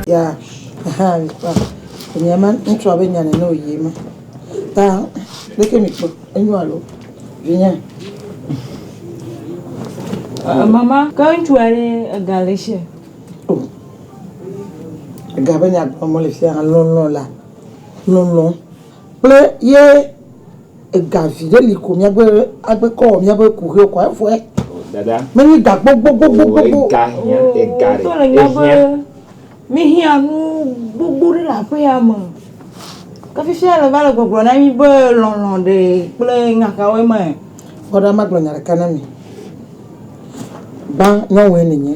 Ya hã kpa enye ma ŋutsua be nya nene wòyi ema. Ta leke mekpɔ enyo alo vinye. Uh, mama, ke ŋutsu aɖe ega le sia. Oh. Ega be nya gblɔm le fia lɔlɔ la. Lɔlɔ. Kple ye Ega viɖe li ko mía gbe agbe kɔ wɔ mía be ku ʋewo kɔa efuɛ. Dada. Mɛ nyi ga gbogbo gbogbo gbogbo. Ega hiã ega ɖe. Wotɔ le nya be mí hiã nu gbogbo ɖe le aƒe ya me. Ke fifia le va le gbɔgblɔ na mí be lɔlɔ ɖe kple nya ka woe ma. Kpɔ ɖa magblɔ nya ɖeka na mi. Gbã nyɔnue ne nye.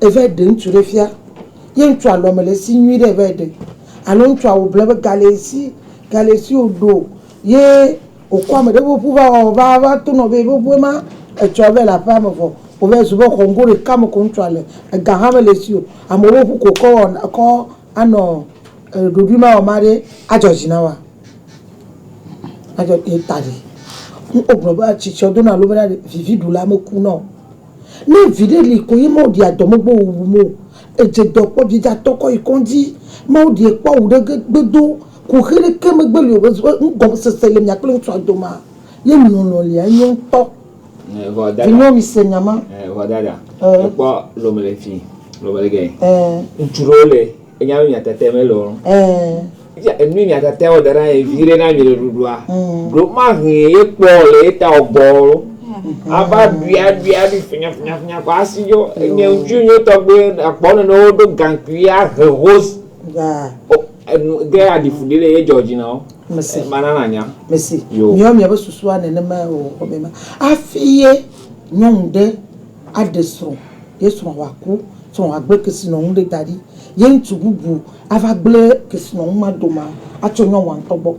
Evae ɖe ŋutsu ɖe fia, ye ŋutsua lɔ mele esi nyuiɖe o evae ɖe alo ŋutsua wò ble be ga le esi, ga le esi wòɖo ye wòkɔ ame ɖe ƒe ŋu va wɔ va va to nɔ be yeƒe ŋue ma etsɔ evae le aƒeame vɔ wòvae zu be xɔ ŋgo ɖeka me ko ŋutsua le, ega hã mele esi o, amewo ƒe ŋu ko wòkɔ wɔna kɔ anɔ ɖoɖuimawɔma ɖe adzɔ dzi na woa? Adzɔ ye ta ɖe. Wogblɔ be tsitsia wodona alo mena ɖe viviɖula mekuna o. Ne viɖe li koe nye Mawu ɖia dɔ megbe wuwu mo. Edze dɔ kpɔ biedza tɔ kɔ yi kɔndzi. Mawu ɖie kpɔ awu ɖe ge gbe do. Kuxe ɖe ke megbe li o be nu gɔme sese le mia kple ŋutsua domaa, ye lɔlɔ lia enyo ŋutɔ. Vinyewo mi se nya ma. Eʋɔ dada. Ekpɔ lɔme le fi lɔme le ge. Ŋutsu ɖewo le. Enya nu nyatetea mele o. Eee. Enu nyatetea wɔ dana ye vi ɖe na mi le ɖuɖua. Ɖo ma hɛn ye kpɔ le ye ta ɔgbɔ o. Ava ɖui aɖui aɖui finya finya finya kɔ asi dzo. Enye ŋutsu nyuie tɔgbe akpɔ nene wo ɖo gankui ya he hose. Daa. O enu ge aɖi fu ɖi le ye dzɔ dzi na wo. Mesi. Ma na na nya. Mesi. Yo. Miɔ miɔ be susua nene ma ye o xɔ me ma. Afi ye nyɔnu ɖe aɖe srɔ̃, ye srɔ̃a wòaku, srɔ̃a wòagblẽ kesinɔnu ɖe da ɖi, ye ŋutsu bubu ava gblẽ kesinɔnu ma doma atso nyɔnua ŋutɔ gbɔ.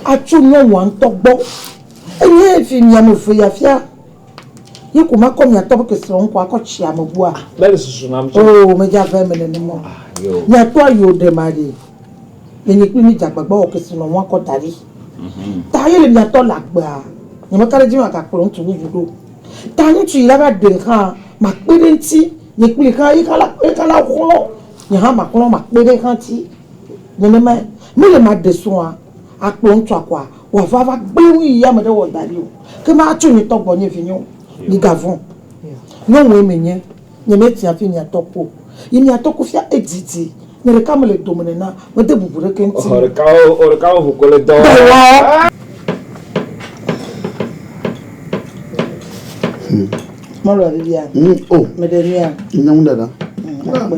Atso nyɔnua ŋutɔ gbɔ. Enye fi mi ame eve ya fia, ye ko makɔ miatɔ ƒe kesinɔnu ko akɔ tsi ame bua? Mele susu nam tsɛ. Oo, medze abe eme nenema o. Miatɔ ayi o ɖe maɖee. Le nye kple mi dze agbagba wɔ kesinɔnu akɔ da ɖi. Ta ye le mia tɔ le agbea, nye meka ɖe edzi be magakplɔ ŋutsu bubu ɖo. Ta ŋutsu yi la va ɖe hã, makpe ɖe eŋuti, nye kpli hã, ye hã la, ye hã la xlɔ, nye hã maxlɔ, makpe ɖe hã ŋuti. Nenemae, mele me aɖe srɔ̃a, akplɔ ŋutsua kɔa, wòava va gblẽ nu yi ame ɖe wɔ da ɖi o, ke ma atso nye tɔ gbɔ, nye vinyewo, migavɔ̃. Nyɔnue menye. Nye me tia fi mia tɔ kpo. Yi mia tɔ kufia edidi. Nye ɖeka me le dome nena. Me de bubu ɖeke ŋuti me. Oɖekawo oɖeka wo ŋu ko le dɔ wɔ. Mɔlu aɖe bia. Hm oh. Me ɖe mia. Nya ŋu ɖaɖa. Hm akpe.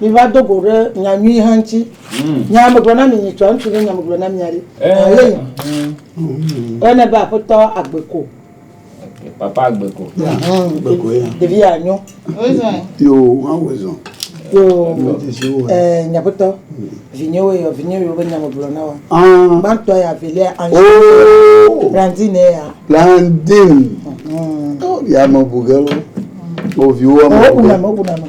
Miva do go ɖe nya nyui hã ŋuti. Nya megblɔ na mi nyitsɔ, ŋutsu nye nya megblɔ na mia ɖi. Aleyi. Woyɔnɛ be aƒetɔ Agbeko. Papa Agbeko. Ɖevi ya nyo. Yo, ŋa wo zɔn. Yo, eh, nya aƒetɔ. Vinye wo yɔ, vinye yo be nya megblɔ na wa. Ah. Gbantɔ ya, velia, anji. Oh. Blandine ya. Blandine. Oh, ya me bugelo. Oh, viwo. Oh, uname, uname.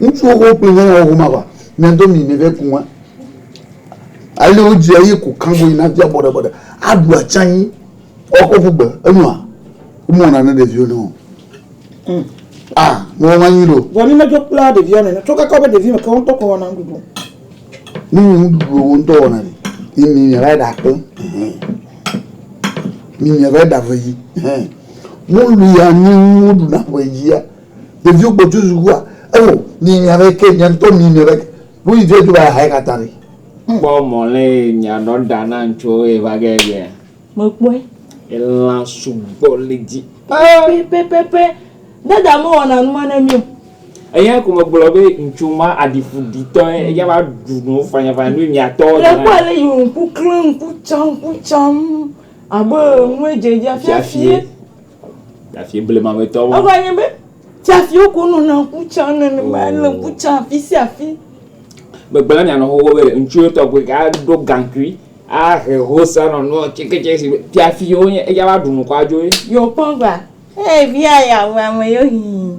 Ŋutsu xoxo kple nyɔnu xoxo ma va, miado mi me vɛ ku ŋa. Ale wo dzi eye ku kango yi na via bɔɖe bɔɖe. A ɖu atsa anyi, ɔ kɔ ƒu gbe. E nua, wo me wɔ na ne ɖeviwo nɛ o. Aa, me wɔ ma nyui ɖe o. Vɔ ne me dzo kpla ɖevia nɛnɛ, tso kaka wo be ɖevi me ke wo ŋtɔ kɔ wɔ na ŋɖuɖu. Ne ŋuɖu wò ŋutɔ wɔna ɖi, yi mi mìava yi ɖakpɔ hɛn. Mi mìava yi ɖave yi hɛn. Mɔlu ya nyi woɖu na ƒe yia. Ɖeviwo gbɔ tso sukua, eo mi mìava yi ke mìa ŋutɔ mi mìava yi ke. Ɖo yi via dzo va yi ha yi katã ɖe. Kpɔ mɔ lé mìanɔ ɖa na ŋtsuwo ye va ge ye. Mekpɔe. Elã sugbɔ le edzi. Pɛpɛpɛpɛpɛ. Dada mewɔna numa ne mí o. Eya ko megblɔ be ŋutsu ma aɖiƒuɖitɔe, eya va ɖu nu fanyafanya nu miatɔ. Le kpɔ ale yi wò ŋku klẽ ŋku tsam ŋku tsam abe nue dze edzi afiafie. Fiafie blematɔ ma. Eva nye be fiafiewo ko nɔna ŋku tsam nenema ele ŋku tsam afisiafi. Megblɔ na mia nɔnɔwo be ŋutsu tɔgbi aɖe ɖo gaŋkui Ahe hosa nɔ nua tse ketse si be fia fi yewo nye eya va ɖu nukɔ adzo ye. Yo kpɔ gba. Hey via ya wɔ ame yo hii.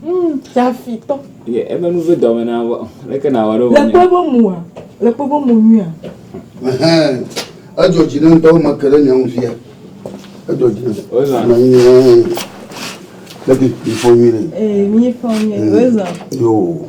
Mm, fia fi tɔ. Ye ebe nu ve dɔme na vɔ. Leke na wɔ ɖo vɔ. Le kpɔ ebe mua. Le kpɔ ebe mu nyuia. Ehem. Edzɔ dzi ne ŋutɔ me ke ɖe nya ŋu fia. Edzɔ dzi ne. Ozan. Na yi ne. Leke yi fɔ nyuie. Eh, mi fɔ nyuie. Ozan. Yo.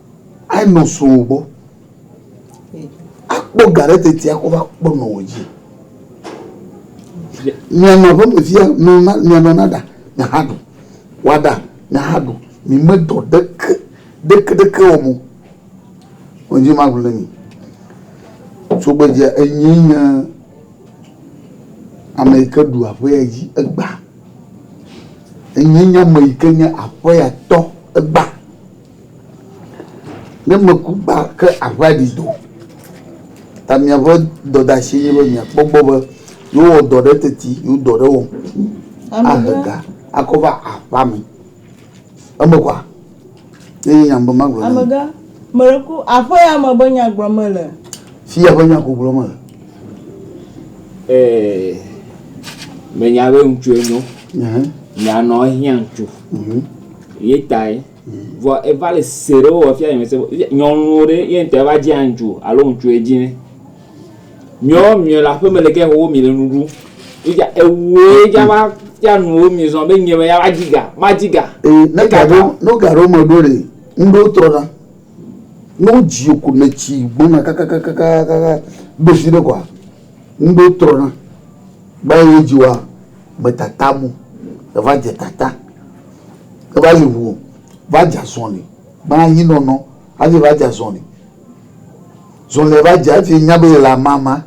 Anɔ srɔ̃wò gbɔ. Akpɔ ga ɖe teti akɔ va kpɔ nɔwò dzi. Mianɔ aƒeme fia nɔ na mianɔ na ɖa miaha ɖu. Wa ɖa miaha ɖu. Mi me dɔ ɖeke ɖeke ɖeke wɔm o. Wo dzi ma ʋlẽ mi. Tugbedzea enyee nye ame yi ke ɖu aƒea dzi egbea. Enyee nye ame yi ke nye aƒea tɔ egbea. Ne meku kpa ke aƒea ɖi do ta miaƒe dɔdeasie nye be miakpɔ gbɔ be yewowɔ dɔ ɖe teti yewo dɔ ɖe wɔm ahe ga akɔ va aƒea me. Eme kɔa? Ye nye nya be magblɔ na mi. Amegã, meɖe ku aƒe ya me be nya gblɔm mele. Fi ya ƒe nya ko gblɔm mele. Ee, menya be ŋutsue nyo. Nya nɔ ehiã ŋutsu. Ye tae. Vɔ eva le se ɖe wowɔ fia nyemese be nyɔnuwo ɖe ye ŋtɔ eva dzi aŋtsu alo ŋtsu ye dzi ne. Miɔ miɔ le aƒeme le ke xoxo mi le nu ɖu. Eja ewuwo ye dza va fia nu wo mi zɔ be nye me ya va dzi ga ma dzi ga. E ne ga ɖewo no ga ɖewo me ɖo ɖe ŋɖe wo trɔ na. Ne wo dzi wo ko ne tsi gbɔna kakakakakakaka be zi ɖe kɔa ŋɖe wo trɔ na. Gba ye dzi woa me tata mu eva dze tata. eva yi ŋu va dze azɔli be anyinɔnɔ hafi va dze azɔli. Zɔlia va dze hafi nya be yele amama.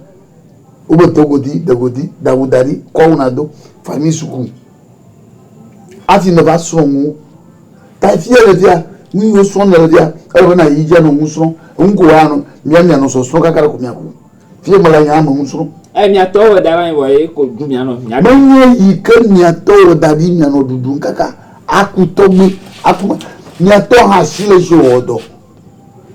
Wobe do godi, de godi, da awu da ɖi, kɔ awu nado, va anyi suku hafi neva srɔ̃ nuwo. Ta fi ye le fia, nu yiwo srɔ̃m nèle fia, ele be nàyi dzi anɔ nu srɔ̃m. Enu ko woanɔ, mia mianɔ sɔsrɔ̃ kakaɖe ko miaku. Fie mele nya me ŋu srɔ̃. Eye miatɔ wɔ da va wɔ ye ko ɖu mianɔ. Menye yi ke miatɔ wɔ da ɖi mianɔ ɖuɖum kaka aku tɔgbi aku me. Miatɔ hã si le si wɔ dɔ.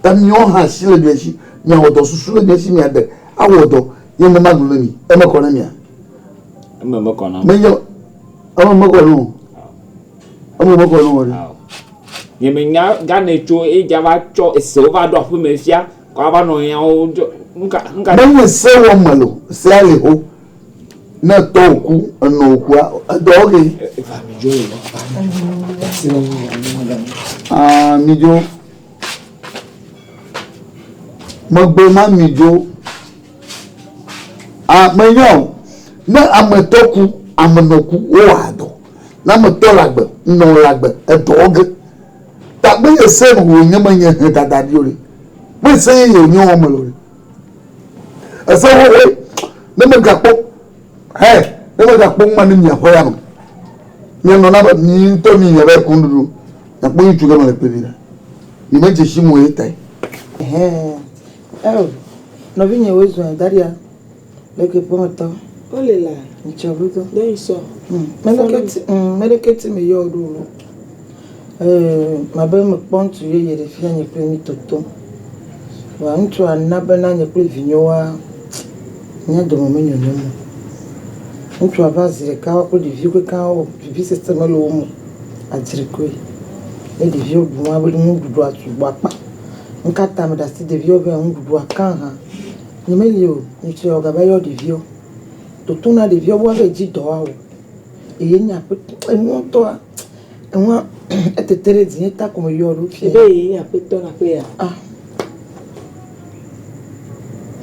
Ta miwo hã si le mia si miawɔ dɔ susu le mia si miade awɔ dɔ ye me magblɔ ne mi. Eme kɔ ne mia? Eme mekɔ na. Menye eme mekɔ ne o. Eme mekɔ ne o. Nyemenya gane tso eja va tsɔ esewo va ɖo aƒeme fia. Menye se wɔm mele o, sea li xoxo. Ne tɔwò ku, ènɔ wò kua, edɔ wo ke. Aa midzo, megblɔ ma midzo. Aa menya o, ne ame tɔ ku, ame nɔ ku, wo wɔa dɔ. Ne ame tɔ le agbe, nɔ le agbe, edɔ wo ke. Tagbe nye se nu wo nye me nye he dada di ori. Me se ye ye nye wo me lori. Ese wo we ne me ga kpɔ he ne me ga kpɔ ma ne mia kwe ya me. Mia nɔ na be mi ntɔ mi nye be kun dudu. Na kpɔ yi tu ke me le kpe bi na. Mi me je shi mo ye tai. Ehee. Eo. Nɔvi nye wo zɔn daria. Leke kpɔ ŋtɔ. Wo le la. Ŋtsɔ ŋu dɔ. Ɖe yi sɔ. Ŋ. Mɛ leke ti, ŋ, mɛ leke ti me yɔ ɖo wu. Ee, ma be me kpɔ ŋtsu yeye ɖe fia nye kple mi toto. Vɔa ŋtsua na be na nye kple vinyo wa mia dome me nyonyo mo. Ŋtsua va zi ɖeka wa kple ɖeviwo kekeŋ wo vivi sese me le wo mo. Adzri koe. Ne ɖeviwo bu ma be nuɖuɖua sugbɔ akpa. Ŋka ta me ɖe asi ɖeviwo be nuɖuɖua ka ha. Nyemeli o, nyetsɔe wɔ gaba yɔ ɖeviwo. Toto na ɖeviwo be woabe dzi dɔ woawɔ eye nye aƒetɔ, enuɔ ŋtɔa, eŋua etete ɖe dzinye ta ko meyɔ ɖo fiaɛ. Ebe ye nye aƒetɔ le aƒe ya? Ah.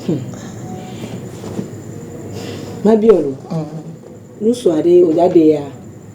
Hum. Mabiɔ lo. Ɔn. Nusua ɖe wòdza ɖe ya?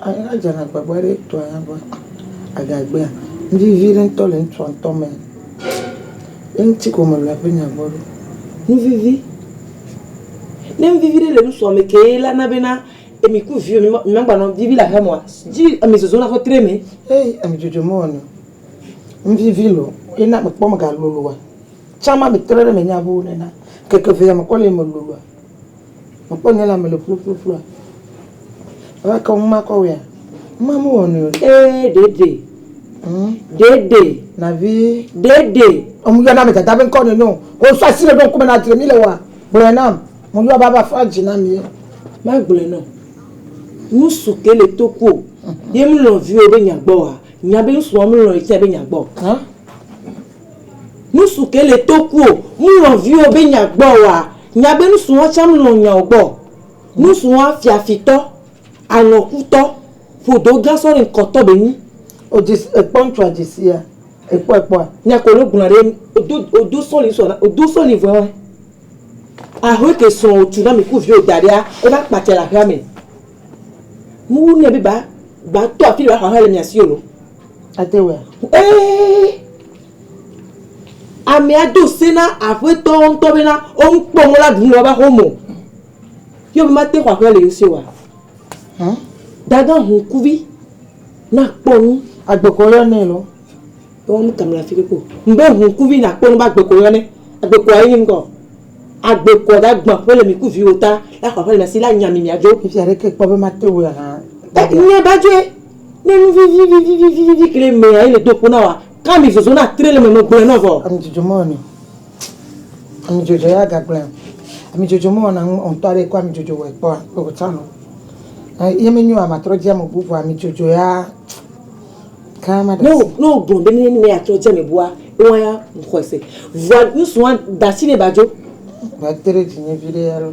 Anyi la dzena agbagba ɖe etɔa ya be agagbea, nuvivi ɖe ŋutɔ le ŋutsua ŋutɔ me. Ye ŋuti ko mele ƒe nya gbɔ ɖo. Nuvivi, ne nuvivi ɖe le ŋutsua me ke ye la na be na emi ku viwo mi mi magba nɔ nuvivi le aƒeme oa, dzi emi zɔzɔna ƒe tre me. Heyi emi dzodzo mewɔnɛ o. Nuvivi lɔ ye na mekpɔ mega loloa. Tsã ma me tre ɖe me nya ƒe o nena ŋkeke evea me kɔ le eme loloa. Mekpɔ nyɔnua me le ƒuƒluƒlua. Ewɔ ke ŋu makɔ wɔea? Ŋma mewɔ nɛ o. Ee, ɖeɖe. Ŋ. Ɖeɖe. Nɔvi. Ɖeɖe. Woyɔna ame dada ƒe ŋkɔ nɛ nyo. Wosɔ asi ɖe ɖo ŋkume na dzre mi le wɔa? Gblɔe nam. Meyɔa be ava fa dzi na mi ye. Magblɔe nɔ. Ŋsu ke le to kuo. Ye mlɔ viwò be nya gbɔ wɔa? Nya be ŋsua mlɔ ye tsɛ be nya gbɔ. Ã? Nusu ke le to kuo, mlɔ viwo be nya gbɔ oa? Nya be nusu wa tsa mlɔ nyao gbɔ. Nusu wa fiafi tɔ, alɔ̃ ku tɔ, ƒodo gã sɔ rin kɔ tɔ be nyi. O dzesi ekpɔ ŋtsua dzesia? Ekpɔ ekpɔa? Nya ko lo gblɔa ɖe enu. O do o do sɔli sɔ na o do sɔli vɔɛ wɛ. Ahɔɛ ke srɔ̃ o tu na mi ku viwo da ɖea e va kpatsɛ le aƒea me. Nuwu nɛ be ba ba tɔ afi ɖe ba xɔ aƒea le mia si o lo. Ate ŋu. Ee, amea do se na aƒetɔ ŋutɔ bena wo ŋu kpɔ mɔ la ɖu le woƒe aƒe me o. Yɔ be mate xɔ aƒea le ye si oa? Hã? Dagã ŋkuvi na kpɔ nu. Agbekɔ yɔ nɛ lɔ. Yɔ nu kam le afi ɖe ko. Mbe ŋkuvi na kpɔ nu be agbekɔ yɔ nɛ. Agbekɔ ayi ni ŋkɔ. Agbekɔ da gbã ƒe le mi ku viwo ta la xɔ aƒe le mi si la nya mi mia dzo. Efi aɖe ke kpɔ be mate ŋu hã. Nya ba dzoe. Ne nu vivi vivi vivi vivi ke ɖe mea ele do ƒo na wòa, ka mi zozo na tre le me me gblɔe nɔ vɔ. Ami dzodzo mɔ ni. Ami dzodzo ya ga gblɔe o. Ami dzodzo mɔ na ŋ ŋtɔ aɖe kɔ ami dzodzo wɔe kpɔa kpe o can o. Ye me nyoa ma trɔ dzi ame bu vɔ ami dzodzo ya ka ma ɖe asi. Ne wo gblɔ be ne ya trɔ dzi ame bua ewa ya ŋ xɔe se. Vɔa ŋsua dasi ne ba dzo. Vɔa te ɖe dzi nye viɖe ya ɖo.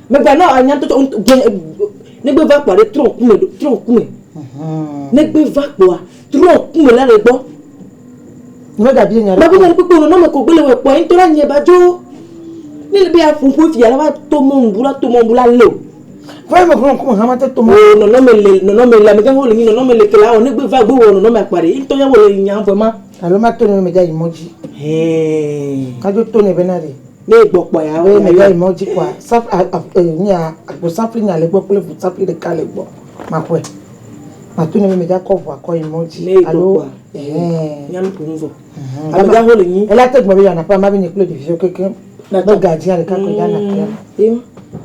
Megba na anya ŋutɔtɔ ŋutɔ gblẽ e e negbe va kpɔa ɖe trɔ ŋku me trɔ ŋku me. Negbe va kpɔa trɔ ŋku me la le gbɔ. Mega bia nya ɖe. Babu nya kpekpe nɔnɔ me ko gbele wɔ kpɔa ŋutɔ la nye ba dzo. Ne le be ya ƒu ƒu fia la va to mɔ ŋbu la to mɔ ŋbu la leo. Vai me ƒlɔ ŋku me hama te to mɔ. O nɔnɔ me le nɔnɔ me le ame gã ho le nyi nɔnɔ me le ke la o negbe va gbe wɔ nɔnɔ me akpa ɖe ŋutɔ ya wɔ le nya vɔ ma. Alo ma to ne me dza yi mɔ dzi. Hɛɛ. Ka dzo to ne be na ɖe. Ne egbɔ kpɔa ya ɔe mele yi mɔdzi kɔa sap a a e nya agbo sapli nya le gbɔ kple ʋu sapli ɖeka le gbɔ maƒɔe matu ne meme dza kɔ ʋua kɔ yi mɔdzi ne egbɔ alo kpɔa ɛhɛn nya nuku nu vɔ ɛhɛn ame gaxo le nyi ela te gbɔ be yana ƒe ama be nye kple ɖeviwo kekeŋ be gadzia ɖeka koe dana ƒea me yo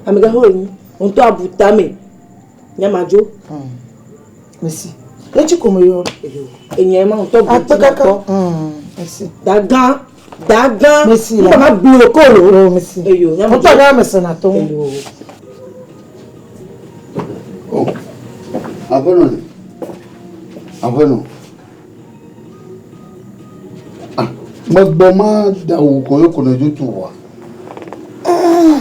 ame gaxo le nyi ŋtɔ abu tame. Nyamadzo. Hmm. Mesi. Etsi ko meyɔ. Enye ma ŋutɔ gbɔ. Akpekaka. Hmm. Mesi. Dagan. Dagan. Mesi. Ŋutɔ ma blo ko lo. Oh, mesi. Eyo. Nyamadzo. Ŋutɔ ma mese na to. Eyo. Oh. Aƒenɔ ni. Aƒenɔ. Ah. Megbɔ ma da wò kɔ yɔ kɔ nɔ dzotu wa. Ah.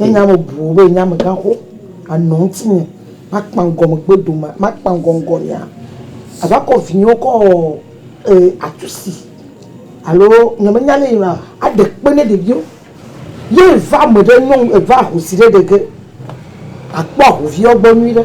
Ne nye ame buwo be nye amegã xo anɔ ŋutinye, makpa ŋgɔ megbe dome, makpa ŋgɔ ŋgɔnyea, ava kɔ vinyewo kɔ wɔ ee atu si alo nye menya ne yina o aɖe kpe ne ɖeviwo. Ye eva ame ɖe nyɔnu eva ahosi ɖe ɖe ge akpɔ ahoviwo gbɔ nyuie ɖe.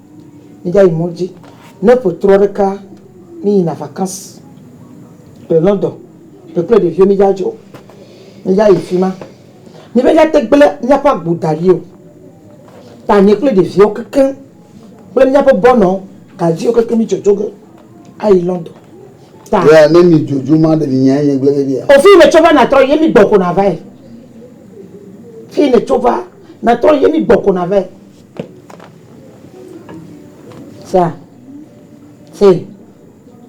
Mígayi mɔ dzi. Ne ƒe trɔ ɖeka míyina vacances le London, ƒe kple ɖeviwo mídza dzo o. Mídza yi fima. Míbe míate gblẽ míaƒe agbo da ɖi o. Ta nye kple ɖeviwo kekeŋ kple míaƒe bɔnɔ gadziwo kekeŋ mídzodzoe be ayi London. Ta. Yea, ne mìdzodzo ma ɖe mìnya enye gblẽ veviea? O, fiyi nètso va nàtrɔ yi ye mígbɔ ko nàvae. Fiyi nètso va nàtrɔ yi ye mígbɔ ko nàvae. Sea? See.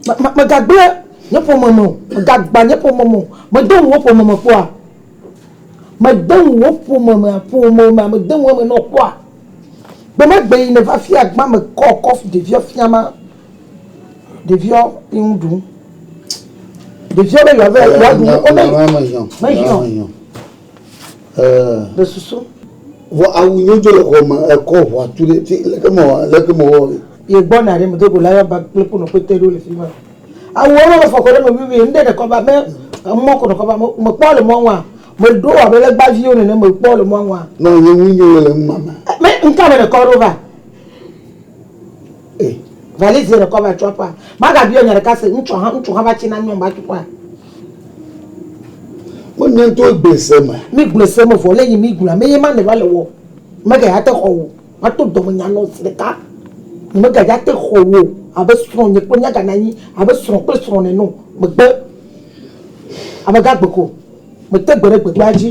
Me, me, megagblẽ nye ƒome me o. Megagbã nye ƒome me o. Mede ŋu wò ƒome me kpɔa? Mede ŋu wò ƒome me, ƒome me, mede ŋu eme na wò kpɔa? Gbe ma gbe yi nèva fia gbã me kɔ kɔfu ɖeviɔ fia ma, ɖeviɔ yi ŋu ɖum. Ɖeviɔ be yewoava, yewoaɖu nu, wome, mehiã o. Ɖe susu. Vɔ awu nyo jo le xɔ me ekɔ ʋɔa tu ɖe ti leke me wɔ leke me wɔ ɣi. Ye gbɔ na ɖe me do go la ya ba kple kpo nɔ kpete ɖo le fi ma. Awu wɔ nɔ fɔ kɔ ɖe me vi vi ŋɖe ɖe kɔ ba me emɔ ko nɔ kɔ ba me me kpɔ le mɔ ŋua me ɖo wɔ abe legba vi wo nene me kpɔ le mɔ ŋua. Nɔ nye ŋui nyo le ŋma me. Me ŋka me ɖe kɔ ɖo va. E. Valise ɖekɔ va tso aƒea. Maga biɔ nya ɖeka se. Ŋtsɔ ha, ŋtsu ha va tsi na nyɔn ba tso ƒea. Wo nya ŋto egble se me. Mi gble se me vɔ le yi mi gblɔa me ye ma ne va le wɔ. Me ga ya te xɔ wo. Ma to dɔme nya nɔ zi ɖeka. Nye me ga ya te xɔ wo abe srɔ̃ nye kple mia ga na nyi abe srɔ̃ kple srɔ̃ nɛ nɔ. Me gbe. Ame ga gbe ko. Me te gbe ɖe gbe kpea dzi.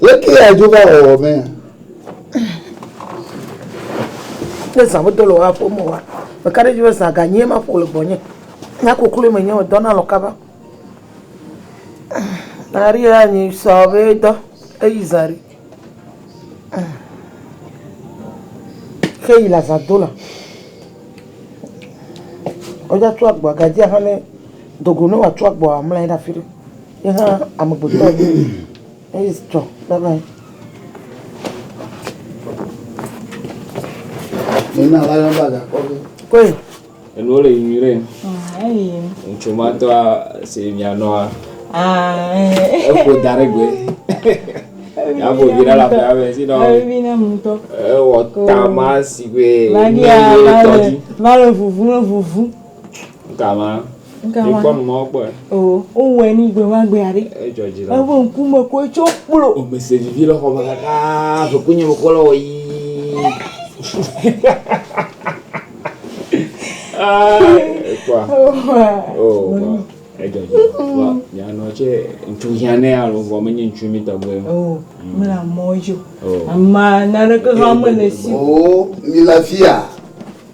Leke yeadzo va wɔwɔ mee? Ne zã medo le woaƒo me wa, meka ɖe edzi be zã ganyie maƒo le gbɔnye. Nya kokloe menye o, dɔna alɔ̃ kaba. Maria anyi sɔ be dɔ eyi zã ɖi. Xe yi le azã do la. Woatsɔ agboa, gadzi axa ne dogo ne wòatsɔ agboa amla anyi ɖe afi ɖe. Ye hã amegbetɔ enye. Eye tsɔ, bye bye. Nina la yɔn bag akɔ ge. Koe. Enuwo le yiyi ɖe. Eyi. Ŋutsu ma tɔa si mianɔa. Eƒo da ɖe gbe. Aƒo vi ɖe la ƒe ame si nɔ. Evi na mu tɔ. Ewɔ tama si gbe. Vagi a va le va le vuvu le vuvu. Galã. Galã. Ikpɔ nu mɔ kpɔe. Oo, wowɔe ni gbemagbe aɖe. Edzɔ dzi la. Eƒe ŋkume ko etso kplo. Womese vivi le xɔ me ɖaa, ƒekunye wokɔ le wɔ yii. Ekpɔa. Oo, vɔ. Edzɔ dzi la. Vɔ, nyanɔ tse, ŋutsu hiãnɛ alo vɔ menye ŋutsu mi tɔgbe. Oo, mele amɔ dzi o. Oo. Amaa, naneke hã mele si o. Oo, mile afia.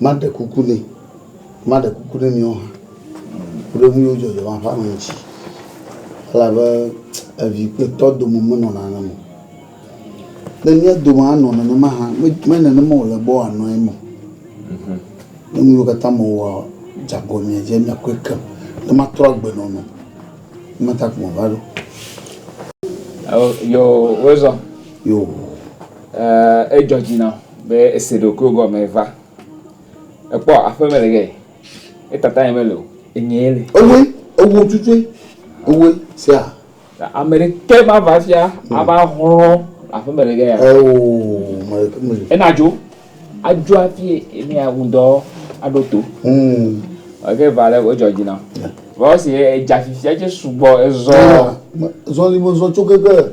Maɖe kuku nɛ, maɖe kuku ne miwo hã, ku ɖe nuyiwo dzɔ dzɔna ƒe ame ŋuti, elabe evi kple tɔ dome menɔna nenema o. Ne mía dome anɔ nenema hã, menye nenema wòle be wòanɔ eme o. Ne nuyiwo katã mewɔa dze agɔ mia dzi, miakpɔe keŋ. Ne matrɔ agbe nɔ mi o, ema ta ko meva ɖo. Yoo, wozɔ. Yoo. Edzɔ dzi nam. Be ese ɖokuiwò gɔme va. Ekpɔ aƒe me le ge. Etata nye mele o. Enyee le. Ewoe, ewo tsutsoe, ewoe, sea. Ameɖeke mava afia ava hlɔ̃ aƒe me le ge ya. Eo, meɖeke mele. Enadzo, adzo hafi emia ŋudɔ aɖo to. Ɔ, ke va le wodzɔ dzi na. Vɔ esi edza fifia tse sugbɔ ezɔ. Zɔli me zɔ tso keke.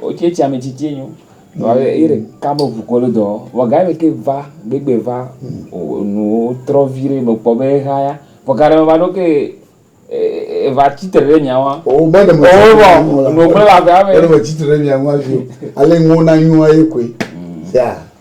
Wotse tsi ame tsitsi nyo. Wa ye ɖe ka me ʋu kɔ le dɔ. Wa ga me ke va gbegbe va nu trɔ vi ɖe me kpɔ be ha ya. Vɔ ga ɖe me va ɖo ke e va tsi tre ɖe mia wa. O me ɖe me tsi tre ɖe mia wa. O me ɖe me tsi tre ɖe mia wa vi. Ale ŋwo na nyo wa ye koe. Sia.